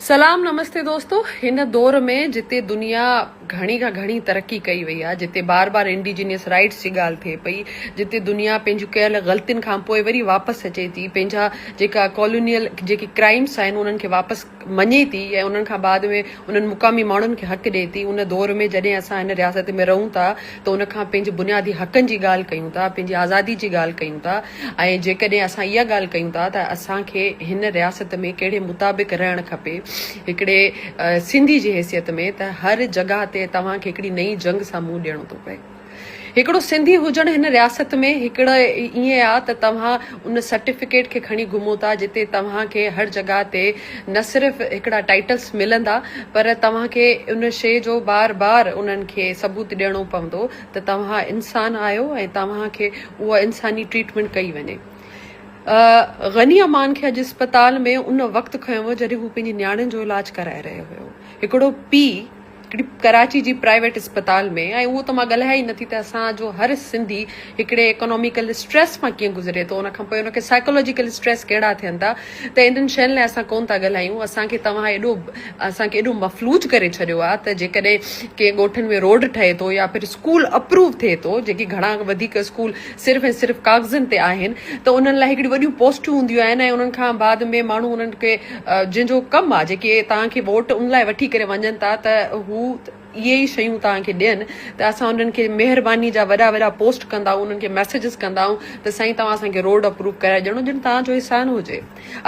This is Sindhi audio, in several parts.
سلام نمستي دوستو هن دور ۾ جتي دنيا گهڻي کان گهڻي ترقي ڪئي وئي آهي جتي بار بار انڊيجينيس رائيٽس جي ڳالهه ٿئي پئي جتي دنيا پنهنجون ڪيل غلطين کان پوء وري واپس اچي ٿي پنهنجا جيڪا ڪالونيل جيڪي ڪرائمس آهن انهن کي واپس مڃي ٿي ۽ انهن کان بعد ۾ انهن مقامي ماڻهن کي حق ڏئي ٿي ان دور ۾ جڏهن اسان هن رياست ۾ رهون ٿا ته ان کان پنهنجي بنيادي حقن جي ڳالهه ڪيون ٿا پنهنجي آزادي جي ڳالهه ڪيون ٿا ۽ جيڪڏهن اسان اها ڳالهه ڪيون ٿا ته اسان کي هن رياست ۾ ڪهڙي مطابق رهڻ کپي هڪڙي سنڌي جي حيثيت ۾ ته هر جڳهه تي توهان کي هڪڙي نئين جنگ سان منهن ڏيڻو ٿو پئي. هڪڙو سنڌي هجڻ هن رياست ۾ هڪڙو ائين آ ته توهان ان سرٽيفڪيٽ کي کڻي گهمو ٿا جتي توهان کي هر جڳهه تي نه صرف هڪڙا ٽائيٽلس ملندا پر توهان کي ان شيء جو بار بار انهن کي ثبوت ڏيڻو پوندو ته توهان انسان آهيو ۽ توهان کي اها انساني ٽريٽمينٽ ڪئي وڃي. غني امان کي اڄ اسپتال ۾ ان وقت کنيو ويو جڏهن هو پنهنجي نياڻين جو علاج ڪرائي رهيو هيو. هڪڙو پيء هڪڙي ڪراچي جي پرائيويٽ اسپتال ۾ ۽ اهو ته مان ڳالهايان ئي نٿي ته اسان جو هر سنڌي هڪڙي ايڪاناميڪل اسٽريس مان ڪيئن گذري ٿو ان کان پوء ان کي سائيڪالاجيڪل اسٽريس ڪهڙا ٿين ٿا. ته انهن شين لاء اسان ڪون ٿا ڳالهايون اسان کي توهان ايڏو اسان کي ايڏو مفلوج ڪري ڇڏيو آهي ته جيڪڏهن ڪنهن ڳوٺن ۾ روڊ ٺهي ٿو يا پھر اسڪول اپروو ٿئي ٿو جيڪي گھڻا وڌيڪ اسڪول صرف ۽ صرف ڪاغذن تي آهن ته انهن لاء هڪڙيون وڏيون پوسٽون هونديون آهن ۽ انهن کان بعد ۾ ماڻهو انهن کي جنهن جو ڪم آهي جيڪي توهان کي ووٽ ان لاء وٺي ڪري وڃن ٿا ته هو اهي ئي شيون توهان کي ڏين ته اسان انهن کي مهرباني جا وڏا وڏا پوسٽ ڪندا انهن کي ميسيجز ڪندا ته سائين توهان اسان کي روڊ اپروو ڪرائي ڏيڻو جن توهان جو احسان هجي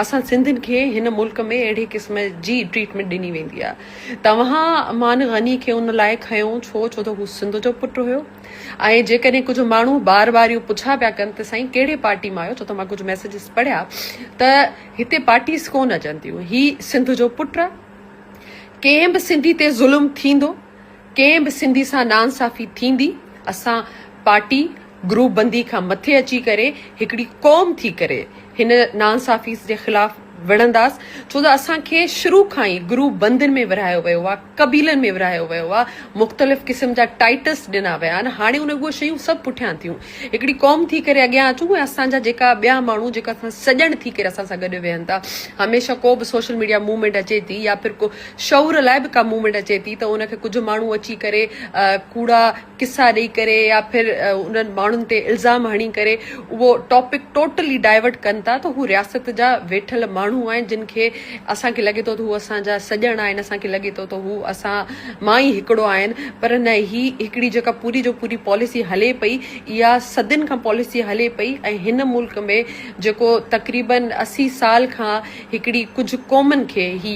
اسان سنڌين کي هن ملڪ ۾ اهڙي قسم جي ٽريٽمينٽ ڏني ويندي آهي توهان امان غني کي ان لاء کنيو ڇو ڇو ته هو سنڌ جو پٽ هيو ۽ جيڪڏهن ڪجهه ماڻهو بار بار اهو پڇا پيا ڪن ته سائين ڪهڙي پارٽي مان آهيو ڇو ته مان ڪجهه ميسيجز پڙهيا ته هتي پارٽيز ڪون اچن ٿيون هي سنڌ جو پٽ ڪنهن به سنڌي تي ظلم ٿيندو، ڪنهن به سنڌي سان ناانصافي ٿيندي، اسان پارٽي گروپ بندي کان مٿي اچي ڪري هڪڙي قوم ٿي ڪري هن ناانصافي جي خلاف وڙهنداس ڇو ته اسان کي شروع کان ئي گروپ بندين ۾ ورهايو ويو آهي قبيلن ۾ ورهايو ويو آهي مختلف قسم جا ٽائيٽس ڏنا ويا آهن هاڻي ان اهي شيون سڀ پٺيان ٿيون هڪڙي قوم ٿي ڪري اڳيان اچون ۽ اسان جا جيڪا ٻيا ماڻهو جيڪا اسان سڄڻ ٿي ڪري اسان سان گڏ ويهن ٿا هميشه ڪو به سوشل ميڊيا موومينٽ اچي ٿي يا پھر ڪو شعور لاء به ڪا موومينٽ اچي ٿي ته ان کي ڪجهه ماڻهو اچي ڪري ڪوڙا قصا ڏئي ڪري يا پھر انهن ماڻهن تي الزام هڻي ڪري اهو ٽاپڪ ٽوٽلي ڊائيورٽ ڪن ٿا ته هو رياست جا ويٺل ماڻهو آهن جن کي اسان کي لڳي ٿو ته هو اسان جا سڄڻ آهن، اسان کي لڳي ٿو ته هو اسان مان ئي هڪڙو آهن پر نه هي هڪڙي جيڪا پوري جو پوري پاليسي هلي پئي اها صدين کان پاليسي هلي پئي ۽ هن ملڪ ۾ جيڪو تقريبن اسي سال کان هڪڙي ڪجهه قومن کي هي